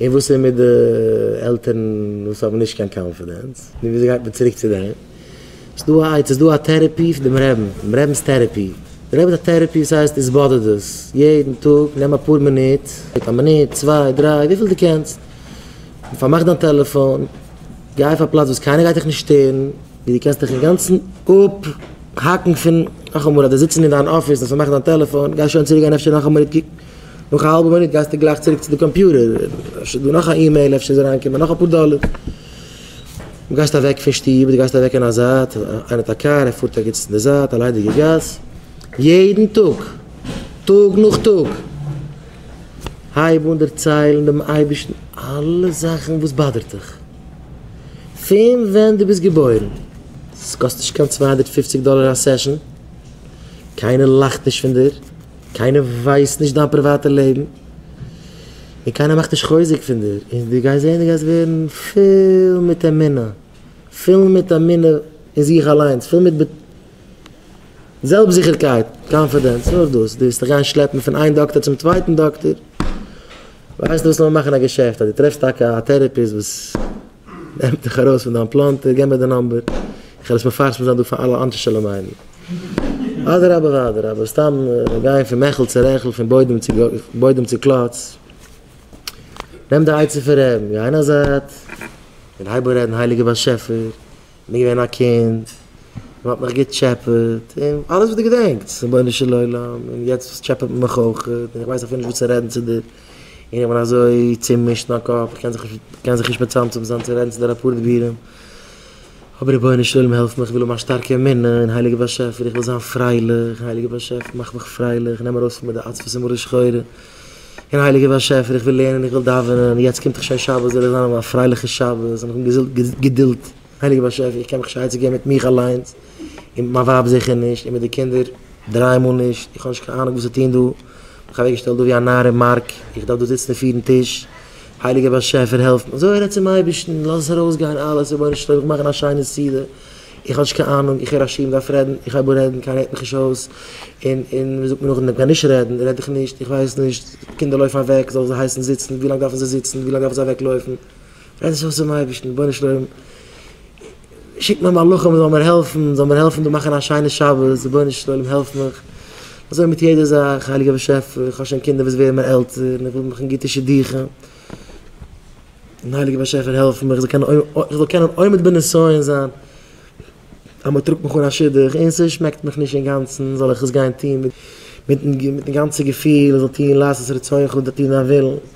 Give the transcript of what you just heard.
און וואס איז מיט די עלטערן וואס האבן נישט קיין קאנפידענס? נו וויאזוי גייט מען צוריק צו דעם? ס'איז דא א עצה, ס'איז דא א טערעפי פון דעם רעבן, דעם רעבן'ס טערעפי. דער רעבן האט א טערעפי וואס הייסט איז באדערט דאס? יעדן טאג נעם אפאר מינוט, א מינוט, צוויי, דריי, וויפיל דו קענסט, און פארמאך דיין טעלעפאן, גיי אויף א פלאץ וואס קיינער גייט דיך נישט שטערן, ווי דו קענסט דיך אינגאנצן אפהאקן פון, נאכאמאל אדער זיצן אין דיין אפיס און פארמאכן דיין טעלעפאן, גיי שוין צוריק גיין אפשר נאך א מינוט קוקן. נאך א האלבע מינוט גייסטו גלייך צוריק צו די קאמפיוטער, אפשר איז דא נאך א אימעיל, אפשר איז אריינגעקומען נאך אפאר דאלער. דו גייסט אוועק פון שטוב, דו גייסט אוועק אין א זייט, איינער האט א קאר, ער פארט ערגעץ אין די זייט, א ליידיגע גאס. יעדן טאג, טאג נאך טאג, הייב אן דערציילן דעם אייבערשטן אלע זאכן וואס באדערט דיך, פון ווען דו ביסט געבוירן. ס'קאסט נישט קיין צוויי הונדערט פֿופֿציק דאלער א סעשאן, קיינער לאכט נישט פון דיר. קיינער ווייסט נישט דיין פריוואטע לעבן, און קיינער מאכט נישט חוזק פון דיר, און דו גייסט זען דו גייסט ווערן פול מיט אמונה, פול מיט אמונה אין זיך אליינס, פול מיט זעלבסטזיכערקייט, קאנפידענס, נאר דאס, דו וועסט דיך גיין שלעפן פון איין דאקטער צום צווייטן דאקטער, ווייסט וואס לאמיר מאכן א געשעפט, אז דו טרעפסט טאקע א טערעפיסט וואס. נעם דיך ארויס פון דיין פלאנטער, גיב מיר די נאמבער, איך וועל עס מפרסם זיין דא פאר אלע אנשי שלומינו. אדרבה ואדרבה, סתם גיין פון מעכל צו רעכל, פון בוידעם צו קלאץ, נעם די עצה פון רעבן, גיי אין א זייט און הייב אן רעדן הייליגער באשעפער, בין געווען א קינד, מען האט מיך געטשעפעט, און אלעס וואס דו געדענקטס, רבונו של עולם, און יעצט טשעפעט מען מיך אויך, און איך ווייס אפילו נישט וואס צו רעדן צו דיר, און איך בין אזוי צומישט אין א קאפ, איך קען זיך נישט מצמצם זיין צו רעדן צו דיר אפאר דבירים, אבער רבונו של עולם העלף מיך, איך וויל האבן א שטארקע אמונה אין הייליגע באשעפער, איך וויל זיין פרייליך, הייליגע באשעפער מאך מיך פרייליך, נעם מיר ארויס פון מיט די עצבות און מרה שחורה. און הייליגער באשעפער איך וויל לערנען איך וויל דאווענען יעצט קומט דאך שוין שבת זאל איך זיין אויף א פרייליכע שבת און איך האב געזאלט געדולד הייליגער באשעפער איך קען מיך שייצען געבן מיט מיך אליינס און מיט מיין ווייב זיכער נישט און מיט די קינדער דריי מאל נישט איך האב נישט קיין אהנונג וואס צו טון דא מיך אוועק געשטעלט דא ווי א נאר אין מארק איך דארף דא זיצן און פירן טיש הייליגער באשעפער העלף מיר אזוי רעד צום אייבערשטן לאז עס ארויס גיין אלעס רבונו של עולם איך וויל מאכן א שיינע סעודה. איך האב נישט קיין אהנונג, איך הער א שיעור און דארף רעדן, איך הייב אן רעדן, קיינער הערט מיך נישט אויס, און און ווי זאגט מען נאכדעם, קיין נישט רעדן רעד איך נישט, איך ווייס נישט, קינדער לויפן אוועק, זאל זיי הייסן זיצן, ווי לאנג דארפן זיי זיצן, ווי לאנג דארפן זיי אוועק לויפן, רעד זיך אויס צום אייבערשטן, רבונו של עולם, שיק מיר מלאכים מען זאל מיר העלפן, זאל מיר העלפן דא מאכן א שיינע שבת, רבונו של עולם העלף מיך, אזוי מיט יעדע זאך, הייליגער באשעפער, איך האב שוין קינדער וואס ווערן מיר עלטער, און איך וויל מאכן גוטע שידוכים. און הייליגער באשעפער העלף מיך איך זאל קענען עומד בנסיון זיין אז מען טראגט מיך אן א שידוך און עס שמעקט מיך נישט אינגאנצן זאל איך עס גיין טון מיטן גאנצע געפיל איך זאל טון לעשות רצונך טון דיין ווילן.